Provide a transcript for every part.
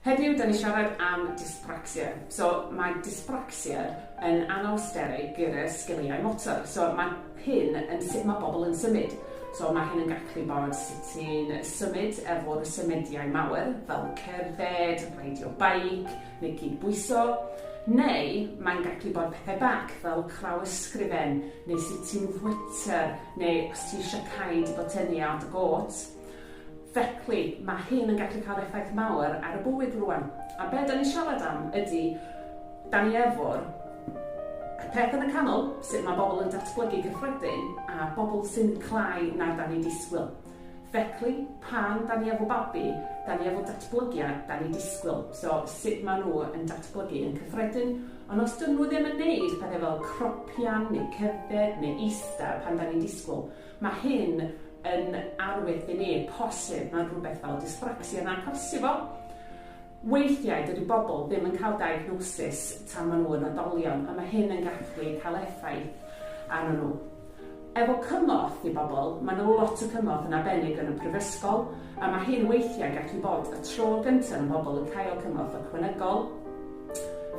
Heddiw dan ni siarad am dyspraxia. So mae dyspraxia yn anawsterau gyrraedd sgiliau motor. So mae hyn yn sut mae bobl yn symud. So mae hyn yn gallu bod sut ti'n symud efo'r symudiau mawr fel cerdded, reidio beic neu cydbwyso. Neu mae'n gallu bod pethau bach fel craw ysgrifen neu sut ti'n fwyta neu os ti eisiau cael dy botynnu ar dy gôt. Felly, mae hyn yn gallu cael effaith mawr ar y bywyd rwan. A be da ni'n siarad am ydy, da ni efo'r peth yn y canol, sut mae bobl yn datblygu gyffredin, a bobl sy'n clai na da ni disgwyl. Felly, pan da ni efo babi, da ni efo datblygiad da ni disgwyl. So, sut maen nhw yn datblygu yn cyffredin. Ond os dyn nhw ddim yn neud pethau fel cropian neu cerdded neu eista pan da ni'n disgwyl, Mae hyn yn arwydd i ni, posib, mae rhywbeth fel dyspraxia yna, posib o. Weithiau dydy bobl ddim yn cael diagnosis tan maen nhw yn oedolion, a mae hyn yn gallu cael effaith arnyn nhw. Efo cymorth i bobl, mae yna lot o cymorth yn arbennig yn y prifysgol, a mae hyn weithiau gallu bod y tro gyntaf yn bobl yn cael cymorth ychwanegol.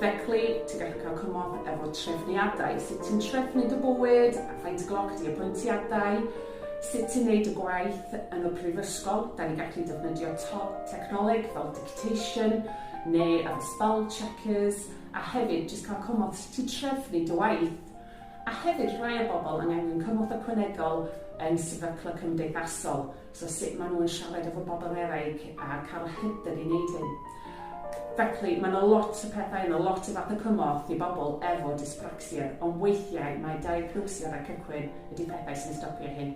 Feclu, ti'n gallu cael cymorth efo trefniadau, sut ti'n trefnu dy bywyd, faint gloc di apwyntiadau, sut ti'n neud y gwaith yn y prifysgol, da ni gallu defnyddio technoleg fel dictation neu efo spell checkers, a hefyd jyst cael cymorth sut ti'n trefnu dy waith. A hefyd rhai o bobl yn angen cymorth ychwanegol yn sefyllfa cymdeithasol, So sut maen nhw'n siarad efo bobl eraill a cael yr hyder i wneud hyn. Felly, mae yna lot o pethau, yna lot o fath o cymorth i bobl efo dyspraxia, ond weithiau mae diagnosiad a cychwyn ydy pethau sy'n stopio hyn.